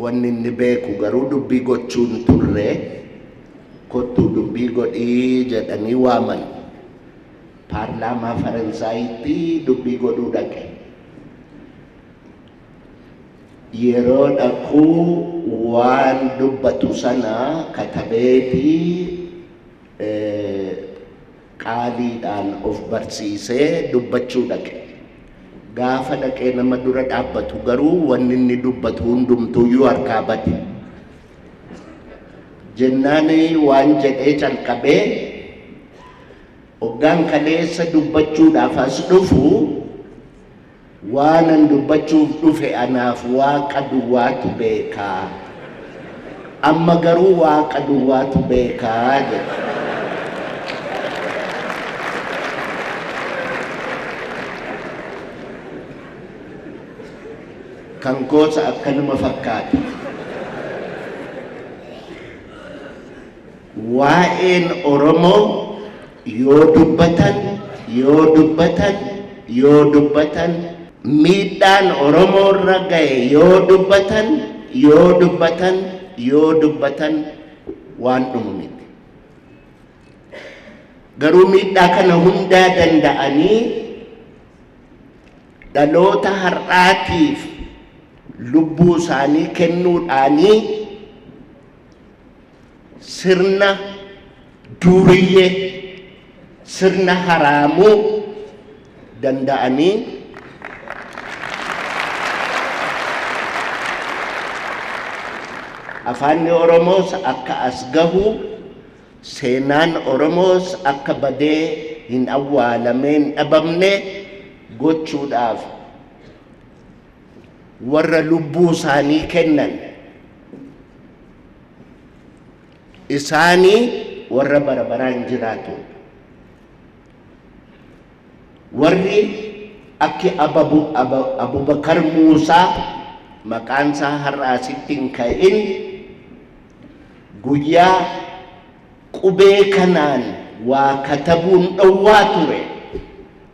Wanni inni beeku garuu dubbii gochuu hin turre. Kottuu dubbii godhi jedhanii waaman. Paarlaamaa Faransaayitti dubbii godhuu dhaqe. Yeroo dhaqu waan dubbatu sana katabeeti Qaaliidhaan of barsiisee dubbachuu dhaqe. Gaafa dhaqee nama dura dhaabbatu garuu wanni inni dubbatu hundumtuuyyuu harkaa bade. Jennaan waan jedhee calqabee hoggaan kaleessa dubbachuudhaaf as dhufu Waanan dubbachuuf dhufe anaaf Waaqa duwwaatu beeka. Amma garuu Waaqa duwwaatu beeka jedhe. Kan koos akkanuma fakkaata. Waa'een Oromoo Yoo dubbatan, yoo dubbatan, yoo dubbatan, miidhaan Oromoo irra gahe yoo dubbatan, yoo dubbatan, yoo dubbatan waan dhumu miti. Garuu miidhaa kana hundaa danda'anii dhaloota har'aatiif lubbuu isaanii kennuudhaanii sirna duuriyyee sirna haraamuu danda'anii afaanni Oromoos akka as gahu seenaan Oromoos akka badee hin awwaalamee hin dhabamne gochuudhaaf warra lubbuu isaanii kennan isaanii warra bara baraan jiraatu warri akki abubakar muusaa maqaan isaa har'a asitti hin ka'in guyyaa Qubee kanaan waa katabuun dhowwaa ture.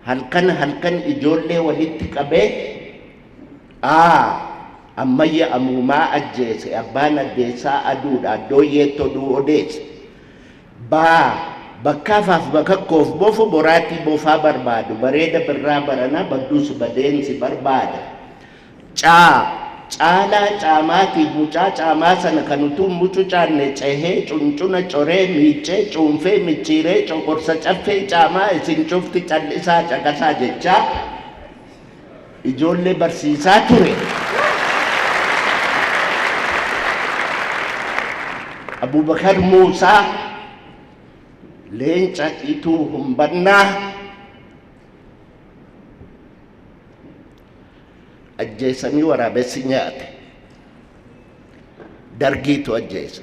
Halkan halkan ijoollee walitti qabee, A. Ammayya Amuumaa ajjeese, Abbaan Addeessaa Aduudha, Addooyyeetti oduu odeesse. B. Bakkaa faaf bakakkoof bofu, Boraatii bofaa barbaadu, Bareeda Birraa baranaa badduus badeen si barbaada. Caa. Caalaa caamaatiif mucaa caamaa sana kan utuu hin mucucaanne cehee, cuncuna coree, miiccee, cuunfee, micciiree, coqorsa caffee caamaa isin cufti cal'isaa caqasaa jechaa ijoollee barsiisaa ture. Abubakar Muusaa, Leenca Ituu Humbannaa, ajjeesanii waraabessi nyaate dargiitu ajjeese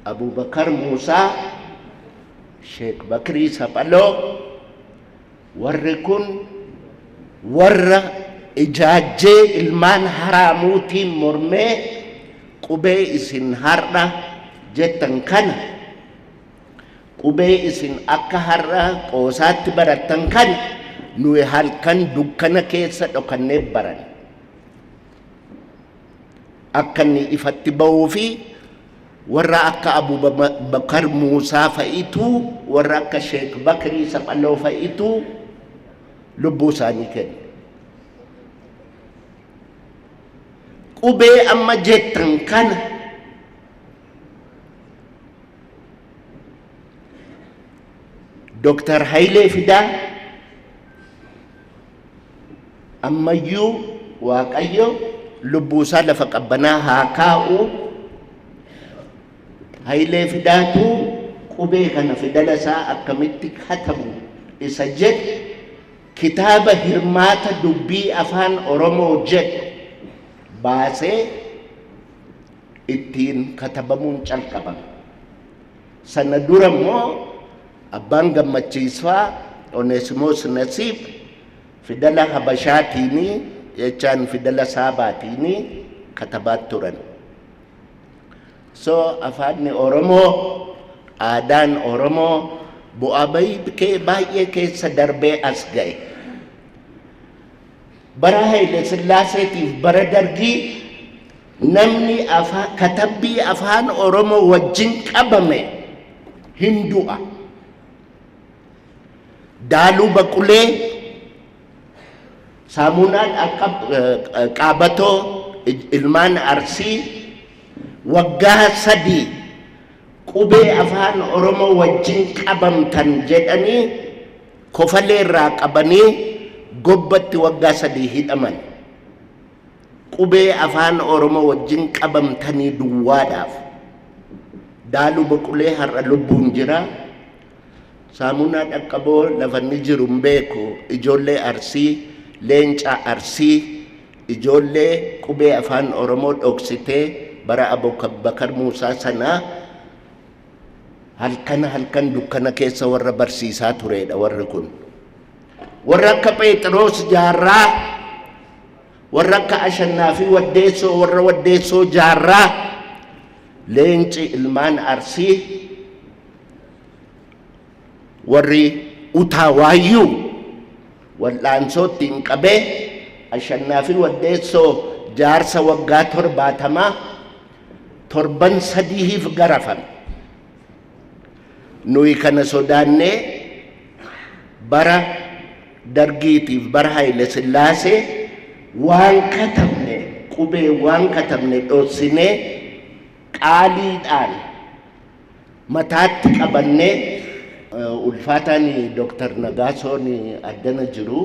abubakar muusaa sheek bakrii saphaloo warri kun warra ijaajjee ilmaan haraamuutiin mormee qubee isin har'a jettan kana Qubee isin akka har'a qoosaatti barattan kan nuyi halkan dukkana keessa dhokannee baranne akka inni ifatti ba'uu fi warra akka Abubakar Muusaa fa'itu warra akka Sheek Bakrii Saphaloo fa'itu lubbuu isaanii kenne. Qubee amma jettan kana Dooktar Hayilee Fidaa ammayyuu Waaqayyo lubbuusaa lafa qabbanaa haa kaa'u. Hayilee Fidaatu qubee kana fidala isaa akkamitti katabu isa jedhu kitaaba hirmaata dubbii afaan Oromoo jedhu baasee ittiin katabamuun calqabame. Sana dura immoo abbaan gammachiisfaa Oneesimoos Nasiib fidala Habashaatiini jechaan fidala Saabaatiini katabaa turan. So afaanni Oromoo, aadaan Oromoo bu'aa bahii kee baay'ee keessa darbee as ga'e. Bara Haile Sillaaseetiif bara Dargii Namni afaa katabbii afaan Oromoo wajjin qabame hin du'a. Daaluu baqulee saamuunaan akka eh, qaabatoo il- ilmaan arsii waggaa sadii qubee afaan Oromoo wajjin qabamtan jedhanii kofalee irraa qabanii gobbatti waggaa sadii hidhaman. Qubee Afaan Oromo wajjin qabamtanii duwwaadhaaf. Daalu Boqulee har'a lubbuun jira. Saamunaa Dhaqqaboo lafa inni jiru hin beeku. Ijoollee Arsii, Leenca Arsii, ijoollee qubee Afaan Oromoo dhoksitee bara Abubakar Muusaa sanaa halkan halkan dukkana keessa warra barsiisaa tureedha warri kun. Warra akka Pheexiroos Jaarraa Warra akka Ashannaafii Waddeessoo warra Waddeessoo Jaarraa leenci ilmaan Arsii warri utaa waayyuu wal'aansoo ittiin qabee Ashannaafii Waddeessoo jaarsa waggaa torbaatamaa torban sadihiif garafame. Nuyi kana sodaannee bara Dargiitiif bara Hayile Sillaasee waan katabne qubee waan katabne dhossinee qaaliidhaan mataatti qabannee ulfaataan Dooktar Nagaasoon addana jiru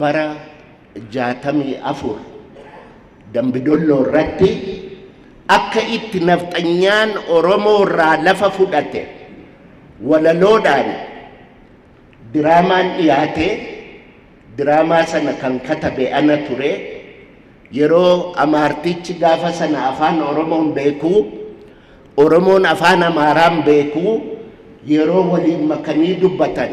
bara 64 Dambidolloo irratti akka itti nafxanyaan Oromoo irraa lafa fudhate walaloodhaan diraamaan dhiyaate diraamaa sana kan katabe ana ture yeroo amaartichi gaafa sana afaan Oromoon beekuu Oromoon afaan Amaaraan beekuu yeroo waliin makanii dubbatan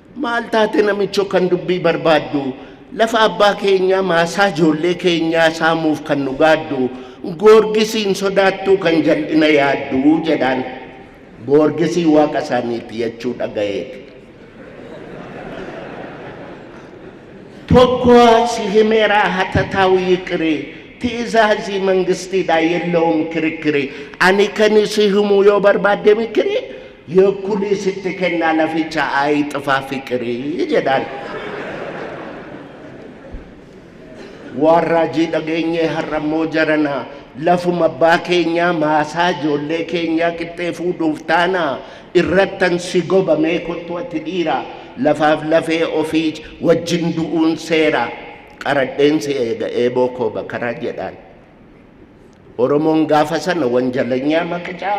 Maal taate namicho kan dubbii barbaaddu? Lafa abbaa keenyaa maasaa ijoollee keenyaa saamuuf kan nu gaaddu goorgisii hin sodaattuu kan jal'ina yaaddu jedhaan. Goorgisii waaqa isaaniiti jechuu dhagayeeti. Tokko si himeeraa hatataawu yiqiri ti'izaazii mangistiidhaa yellawum kirikiri ani kan si himuu yoo barbaadde mikiri Yoo kunii sitti kennaa laficha ayi xifaa fiqirii jedhaan. Waan raajii dhageenyee har'ammoo jaranaa lafuma abbaa keenyaa maasaa ijoollee keenyaa qixxee fuudhuuf taanaa irrattan si gobamee kottu ati dhiira lafaaf lafee ofii wajjin du'uun seera qaradheen si eega eeboo koo bakaraa jedhaan. Oromoon gaafa sana wanjalanyaa maqicaa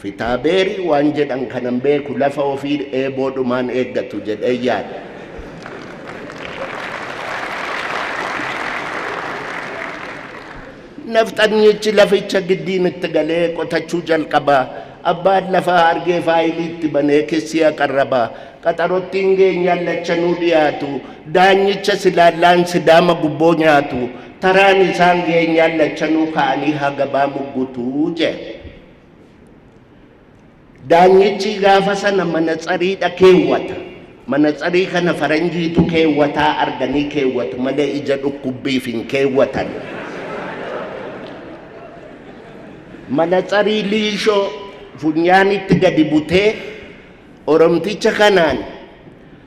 fitaabeerii waan jedhan kanan beeku lafa ofii eeboodhumaan eeggatu jedhee yaada. Nafxanyichi laficha giddiin itti galee qotachuu jalqaba. Abbaan lafaa argee faayilii itti banee kissii aqarraba. Qaxarottiin geenyaan lachanuu dhiyaatu. Daanyicha silaallaan sidaama gubboo nyaatu. Taraan isaan geenyaan lachanuu ka'anii hagabaa muggutu jedhe. Daanyichi gaafa sana manatsariidha keewwata. Manatsarii kana faranjiitu keewwataa arganii keewwatu malee ija dhukkubbiif hin keewwatan. Manatsarii liishoo funyaanitti gadi butee Oromticha kanaan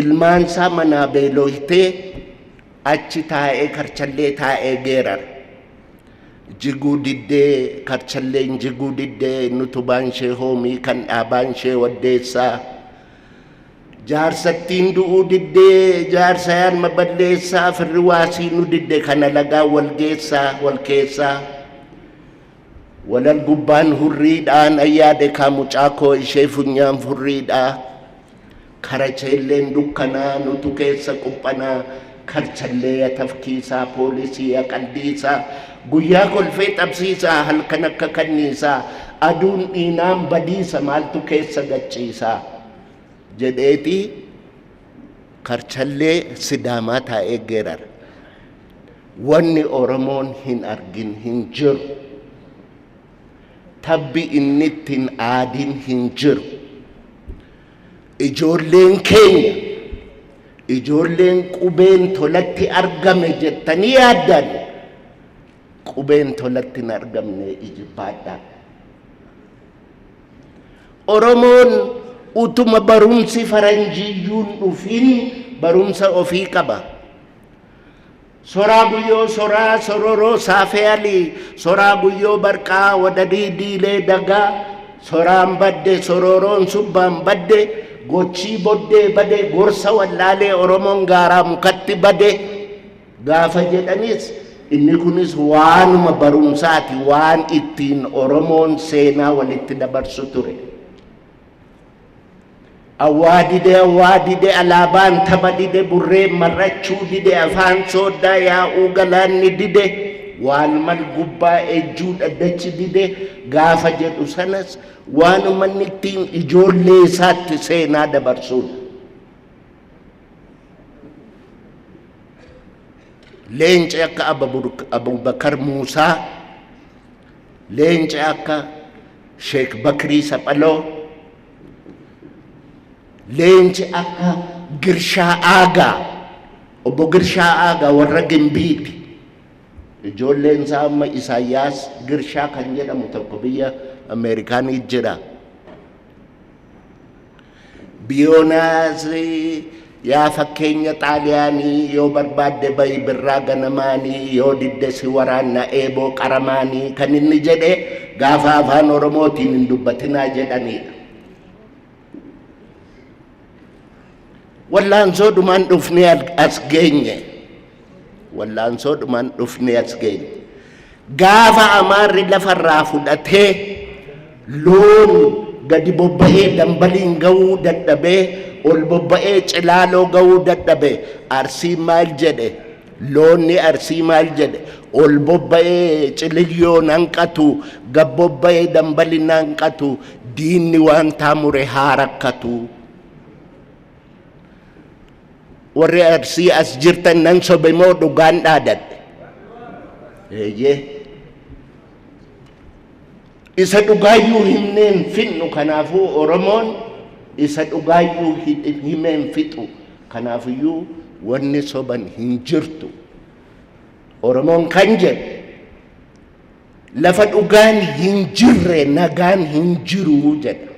Ilmaansaa manaa beelooytee achi taa'ee karchallee taa'ee geerara. Jiguu diddee karchalleen jiguu diddee nutubaan ishee hoomii kan dhaabaan ishee waddeessaa. Jaarsattiin du'uu diddee jaarsayaan maballeessaa firri waasii nu didde kana lagaa wal geessaa wal keessaa. Walag gubbaan hurrii dhaa nan yaade kaa mucaa koo ishee funyaan furrii dhaa karacheelleen dukkanaa nutu keessa quphanaa karchallee ya tafkiisaa poolisii ya qaldiisaa guyyaa kolfee xabsiisaa halkan akka kanniisaa aduun dhiinaan badiisa maaltu keessa gachiisaa jedheeti Karchallee Sidaamaa taa'ee geerara. Wanni Oromoon hin argin hin jiru. Tabbi inni itti hin aadin hin jiru. Ijoolleen keenya, ijoolleen qubeen tolatti argame jettanii yaaddan, qubeen tolatti hin argamne ijibbaadhaa. Oromoon utuma barumsi faranjiyyuun dhufin barumsa ofii qaba. Soraa guyyoo soraa sororoo saafeeyalii soraa guyyoo barqaa wadadii diilee dagaa soraan badde sororoon subbaan badde gochii boddee bade gorsa wallaalee Oromoon gaaraa mukatti bade. gaafa jedhanis inni kunis waanuma barumsaati waan ittiin Oromoon seenaa walitti dabarsu ture. Awwaa dide awwaa dide alaabaan taba dide burreen mar'achuu dide afaan sooddaa yaa'uu galaanni dide waal mal gubbaa ejjuu dhaddachi dide gaafa jedhu sanas waanuma inni ittiin ijoollee isaatti seenaa dabarsuudha. leenci akka abubakar muusaa leenci akka sheek bakrii saphaloo leenci akka girshaa aagaa obbo girshaa aagaa warra gimbiiti ijoolleen isaa amma isaayyaas girshaa kan jedhamu tokko biyya ameerikaanii jira Biyoonaasi yaa fakkeenya xaaliyaanii yoo barbaadde bayi birraa ganamaanii yoo didde si waraanna eeboo qaramaanii kan inni jedhe gaafa afaan oromootiin hin dubbatinaa jedhaniidha. Wallaansoo dhumaan dhufnee as geenye. Wallaansoo dhumaan dhufnee as geenye. Gaafa amaarri lafarraa fudhatee loon gadi bobba'ee dambaliin ga'uu dadhabee ol bobba'ee cilaaloo ga'uu dadhabe arsii maal jedhe loonni arsii maal jedhe ol bobba'ee ciliyyoon hanqatu gad bobba'ee dambaliin hanqatu diinni waan taamure haa rakkatu. warri arsii as jirtan nan sobe moo dhugaan dhaadadhe eeyyee isa dhugaayyuu himneen fixnu kanaafuu oromoon isa dhugaayyuu himeen fixu kanaafiyyuu wanni soban hin jirtu oromoon kan jedhe Lafa dhugaan hin jirre nagaan hin jiru jedha.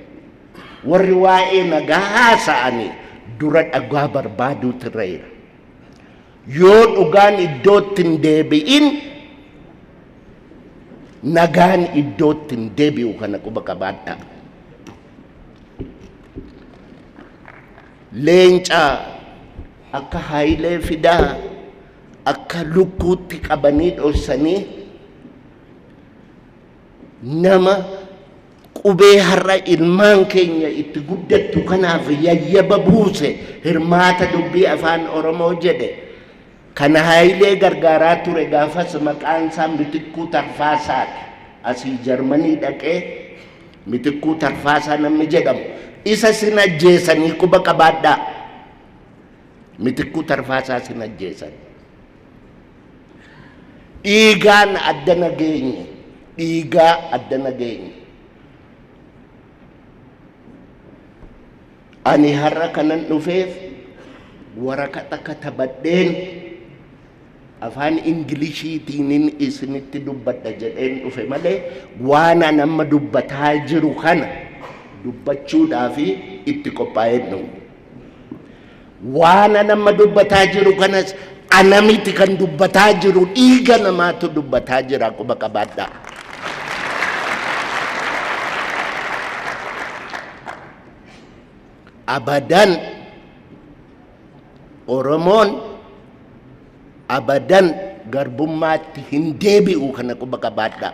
Warri waa'ee nagaa haasa'anii dura dhugaa barbaaduutu irra jira. Yoo dhugaan iddootti hin deebi'in nagaan iddootti hin deebi'u kana quba qabaadhaa. Leenca akka Haayilee Fidaa akka lukkuutti qabanii dhossanii nama qubee har'a ilmaan keenya itti guddattu kanaaf yayyaba buuse hirmaata dubbii afaan oromoo jedhe kana haayilee gargaaraa ture gaafas maqaan isaa mitikkuu tarfaasaadha asii jarmanii dhaqee mitikkuu tarfaasaa namni jedhamu isa sin ajjeesanii quba qabaadhaa Mitikkuu Tarfaasaa sin ajjeesan. Dhiigaan adda nageenye. Dhiigaa adda nageenye. Ani har'a kanan dhufeef waraqata katabadheen afaan Ingiliishiitiinin isinitti dubbadha jedheen dhufe malee waan an amma dubbataa jiru kana dubbachuudhaa fi itti qophaa'een dhufe. Waan anamma dubbataa jiru kanas anamiti kan dubbataa jiru dhiiga namaatu dubbataa jira quba qabaadhaa. Abadan Oromoon abadan garbummaatti hin deebi'u kana quba qabaadhaa.